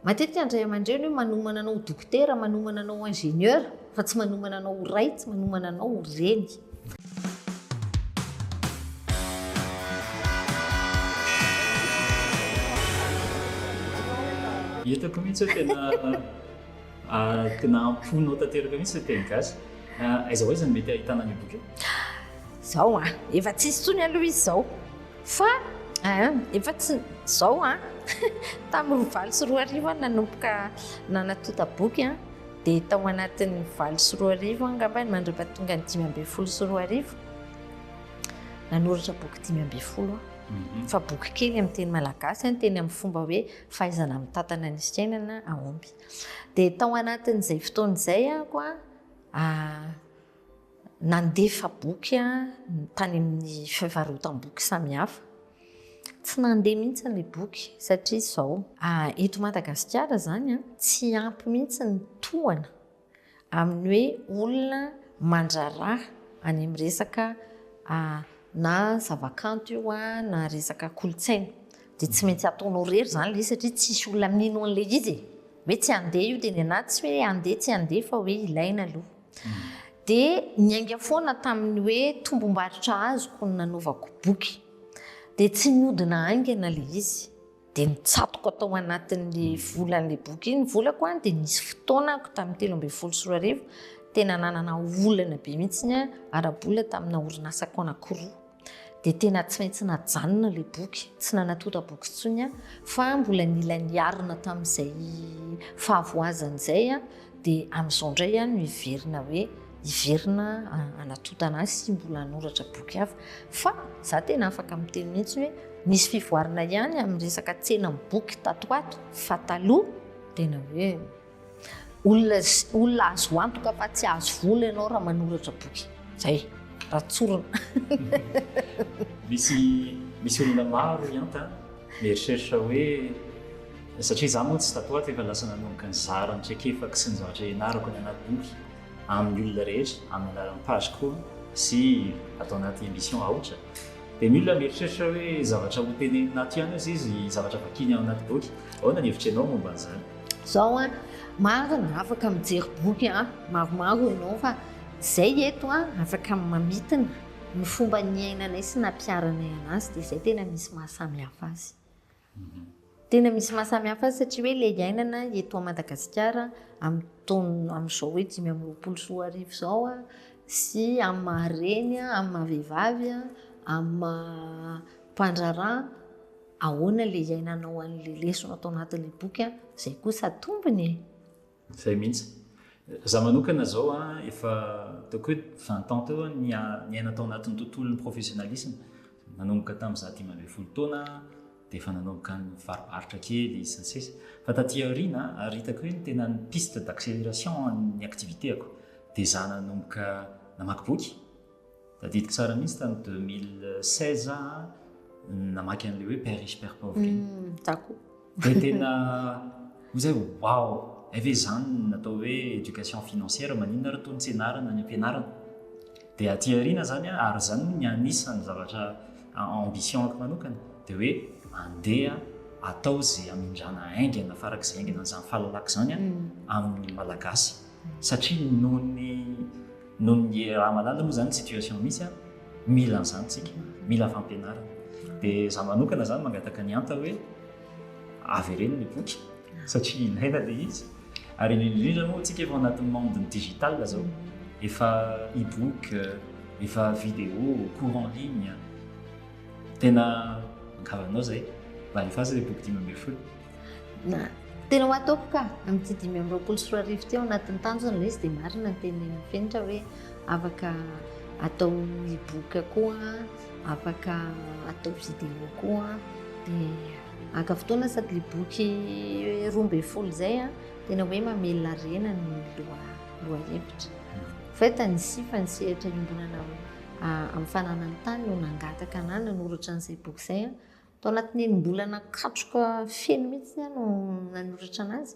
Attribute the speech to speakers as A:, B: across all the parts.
A: Matetika ny ray aman-dreny hoe manomana anao ho dokotera, manomana anao ho ingénieur, fa tsy manomana anao ho ray, tsy manomana anao ho reny.
B: Hitako mihitsy hoe tena ah, tena amponao tanteraka mihitsy le teny gasy. Ah, aiza ho aiza no mety ahitana an'io boky io? Zao a,
A: ah, efa tsisy tsony aloha izy zao. Fa ah, efa tsy zao an! Tamin'ny valo sy roa arivo aho nanomboka nanatonta boky an! Dia tao anatin'ny valo sy roa arivo aho angambany mandritra tonga ny dimy ambin'ny folo sy roa arivo, nanoratra boky dimy ambin'ny folo aho. Mhm. Fa boky kely amin'ny teny malagasy an, teny amin'ny fomba hoe fahaizana mitantana ny fiainana, aomby. Dia tao anatin'izay fotoana izay aho koa, ah, Nandefa boky tany amin'ny fivarotam-boky samihafa. Tsy nandeha mihitsy ilay boky satria izao, eto Madagasikara izany tsy ampy mihitsy ny tohana amin'ny hoe olona mandraharaha any amin'ny resaka na zavakanto io na resaka kolontsaina. Dia tsy maintsy ataonao irery izany ilay izy satria tsisy olona mino an'ilay izy e! Hoe tsy handeha io dia ny anà tsy hoe handeha tsy handeha fa hoe ilaina aloha. dia niainga foana tamin'ny hoe tombom-barotra azoko no nanaovako boky. Dia tsy niodina haingana ilay izy, dia nitsatoka tao anatin'ilay volan'ilay boky iny ny volako an, dia nisy fotoana ako tamin'ny telo ambin'ny folo sy roa arivo tena nanana olana be mihitsy ny ara-bola tamina orinasako anankiroa. dia tena tsy maintsy najanona ilay boky, tsy nanatonta boky intsony aho, fa mbola nila niarina tamin'izay fahavoazana izay aho, dia amin'izao indray aho no hiverina hoe hiverina hanatontana azy sy mbola hanoratra boky hafa. Fa za tena afaka miteny mihitsy hoe nisy fivoarana ihany amin'ny resaka tsenam-boky tato ho ato, fa taloha tena hoe. Olona olona azo antoka fa tsy ahazo vola ianao raha manoratra boky. Zay, raha tsorina. Misy
B: misy olona maro hianta mieritreritra hoe satria za moa tsy tato ato efa lasa nanomboka nizara ny traikefako sy ny zavatra ianarako any anaty boky amin'ny olona rehetra amin'ny alalan'ny page koa sy ato anaty émission aotra Dia ny olona mieritreritra hoe zavatra hotenenina aty ihany hozy izy, zavatra vakiny ao anaty boky. Ahoana ny hevitry ianao momba an'izany? Izao an,
A: maro ny afaka mijery boky an, maromaro ianao fa izay eto an, afaka mamintina ny fomba niainanay sy nampiharanay anazy dia izay tena misy maha samihafa azy. Tena misy maha samy hafa azy satria hoe ilay iainana eto Madagasikara amin'ny taona amin'izao hoe dimy amby roapolo sy roa arivo izao sy amin'ny maha reny, amin'ny maha vehivavy, amin'ny maha mpandraharaha, ahoana ilay iainanao an'ilay lesona tao anatin'ilay boky, izay kosa tombony e! Zay
B: mihitsy. Za manokana zao a, efa ataoko hoe vingt ans teo aho niaina tao anatin'ny tontolon'ny professionnalisme. Nanomboka tamin'ny za dimy ambin'ny folo taona dia efa nanomboka nivaribaritra kely sy ny sisa. Fa taty aoriana ary hitako hoe ny tena ny piste d'accélération an'ny activité-ako dia za nanomboka namaky boky. Tadidiko tsara mihitsy tany 2016 za namaky an'ilay hoe père riche père pauvre iny. Hmm, za koa. Dia tena ho zay wow, ay ve izany natao hoe éducation financière maninona ary toa ny tsenarana ny ampianarana. Dia aty aoriana zany ary zany ny anisan'ny zavatra ambition ako manokana dia hoe andeha atao izay amindrana haingana farak'izay haingana an'izany fahalalako izany hmm. amin'ny malagasy. satria noho ny noho ny raha malala moa zany situation misy a mila an'izany tsika mila fampianarana dia za manokana zany mangataka ny anta hoe avereno ny boky satria ilaina le izy ary indrindrindrindra moa tsika efa anatin'ny monde ny digital zao efa e-book efa vidéo cours en ligne tena ankavanao zay mba alefaso le boky dimy ambin'ny folo Na tena ho
A: ataoko ka amin'ity dimy amby roapolo sy roa arivo ity ao anatin'ny tanjona ilay izy dia marina ny tenin'ny Fenitra hoe afaka atao e-book koa, afaka atao vidéo koa dia haka fotoana sady ilay boky roa ambin'ny folo izay a tena hoe mamelona harena ny loha lohahevitra. Fait ny sifa ny sehatra iombonana amin'ny fananan'ny tany no nangataka anahy nanoratra an'izay boky izay a. Tao anatin'ny enim-bolana katroka feno mihitsy aho no nanoratra an'azy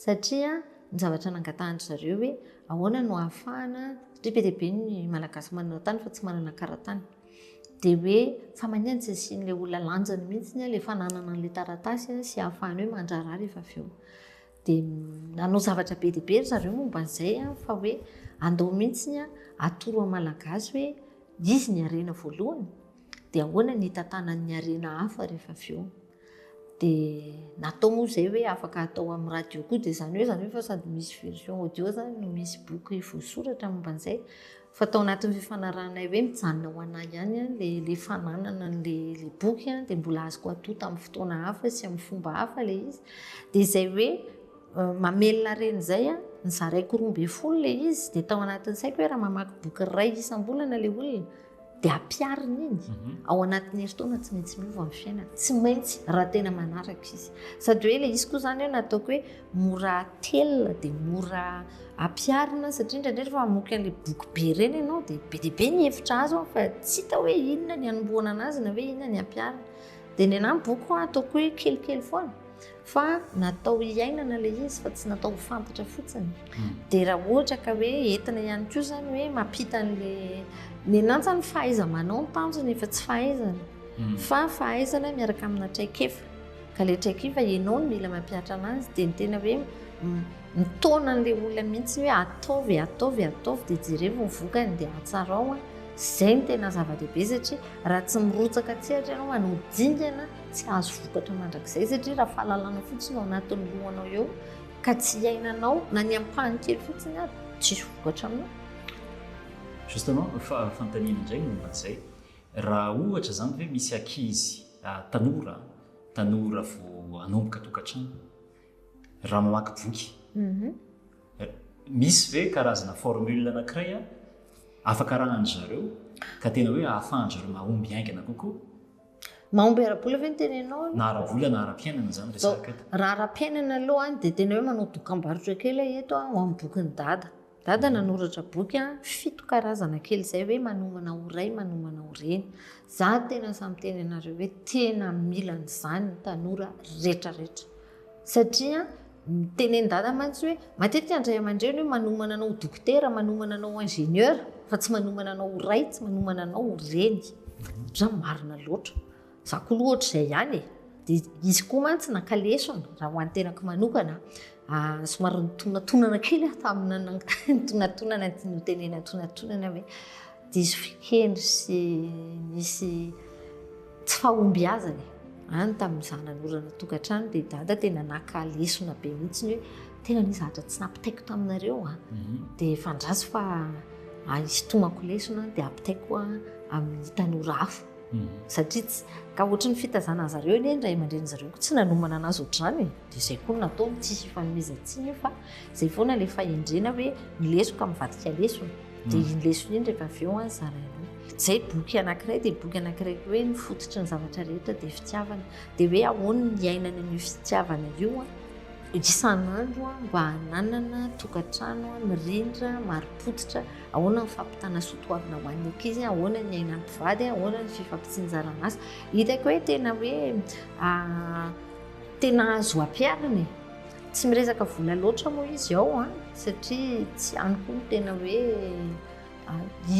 A: satria ny zavatra nangatahan-dry zareo hoe ahoana no ahafahana, satria be dia be ny Malagasy manana tany fa tsy manana karatany. Dia hoe fa mania no tsy asian'ilay olona lanjany mihitsy ilay fananana an'ilay taratasy sy ahafahany hoe mandraharaha rehefa avy eo. Dia nanao zavatra be dia be ry zareo momba an'izay fa hoe andao mihitsy atoro amin'ny Malagasy hoe izy ny harena voalohany. Dia ahoana ny hitantanan'ny harena hafa rehefa avy eo? Dia natao moa izay hoe afaka atao amin'ny radio koa, dia izany hoe izany hoe fa sady misy version audio izany no misy boky voasoratra momba an'izay. Fa tao anatin'ny fifanarahanay hoe mijanona ho anay ihany ilay ilay fananana an'ilay ilay boky dia mbola azoko atao tamin'ny fotoana hafa sy amin'ny fomba hafa ilay izy. Dia izay hoe mamelona harena izay aho, nizaraiko roa ambin'ny folo ilay izy, dia tao anatin'ny saiko hoe raha mamaky boky iray isam-bolana ilay olona, dia ampiarina iny mhm. ao anatin'ny heritaona tsy maintsy miova ny fiainana tsy maintsy raha tena manaraka izy sady hoe ilay izy koa izany hoe nataoko hoe mora telina dia mora ampiarina satria indraindray rehefa mamoky an'ilay boky be ireny ianao dia be dia be ny hevitra azo an fa tsy hita hoe inona ny anombohana an'azy na hoe inona ny ampiarina dia ny anahy boky ho ataoko hoe kelikely foana fa natao hiainana ilay izy fa tsy natao ho fantatra fotsiny hmm. dia raha ohatra ka hoe entina ihany koa izany hoe mampita an'ilay ny nantsa ny fahaiza manao ny tanjona efa tsy fahaizana hmm. fa fahaizana miaraka amina traikefa ka ilay traikefa ianao no mila mampiatra anazy dia ny tena hoe mitaona an'ilay olona mihitsy hoe ataovy ataovy ataovy dia jerevo ny vokany dia atsarao a izay ny tena zava-dehibe satria raha tsy mirotsaka tsehatra ianao anao dingana Tsy hahazo vokatra mandrakizay satria raha fahalalana fotsiny ao anatin'ny lohanao eo ka tsy iainanao na ny ampahany kely fotsiny ary tsisy vokatra aminao.
B: Justement, fa fanontaniana indray ny momba an'izay. Raha ohatra izany hoe misy ankizy tanora, tanora vao hanomboka tokantrano, raha mamaky boky, mhm. misy ve karazana formule anankiray afaka arahan-dry zareo ka tena hoe ahafahan-dry zareo mahomby haingana kokoa? Mahomby
A: ara-bola ve ny tenenao aloha? Na ara-bola na
B: ara-piainana zany resaka eto. Raha ara-piainana aloha
A: an, dia tena hoe manao dokambarotra kely aho eto an, ho amin'ny bokin'i Dada. Dada nanoratra boky an, fito karazana kely izay hoe manomana ho ray, manomana ho reny. Za tena sahy miteny anareo hoe tena mila an'izany ny tanora retraretra. Satria tenendada mantsy hoe matetika ny ray aman-dreny hoe manomana anao ho dokotera, manomana anao ho ingénieur fa tsy manomana anao ho ray, tsy manomana anao ho reny. Izany marina loatra. Izaho koa aloha ohatr'izay ihany e. Dia izy koa mantsy naka lesona raha ho an'ny tenako manokana. Ah, somary nitonantonana kely aho tamin'ny nitonantonana ny tiany hotenenina nitonantonana hoe. Diso fiteny sy nisy tsy fahombiazana any tamin'ny izaho nanorana tokantrano dia dada tena naka lesona be mihitsy ny hoe tena ny zavatra tsy nampitaiko taminareo a mhm. dia fandraso fa hitomako lesona dia ampitaiko amin'ny tanora hafa mhm. satria tsy ka ohatry ny fitazana zareo anie ny ray aman-dreny zareo ko tsy nanomana anazy ohatr'izany e. dia izay koa nataony tsisy ifanomezantsiny io fa Zay foana ilay fahendrena hoe ny lesoka mivadika lesona. Dia iny lesona iny rehefa avy eo zaraina. Zay boky anankiray dia boky anankiray koa hoe ny fototry ny zavatra rehetra dia fitiavana. Dia hoe ahoana ny iainana an'io fitiavana io isan'andro mba hananana tokantrano mirindra, marim-pototra, ahoana ny fampitana soa toavina ho an'ny ankizy, ahoana ny iainan'ny mpivady, ahoana ny fifampitsinjaran'asa. Hitako hoe tena hoe tena azo ampiharina e. Tsy miresaka vola loatra moa izy ao an, satria tsy any koa ny tena hoe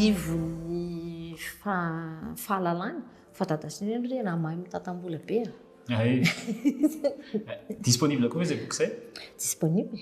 A: ivon'ny fahalalany fa dada sy neny re na mahay mitantam-bola be a. Ay. Disponible
B: koa ve izay boky izay? Disponible.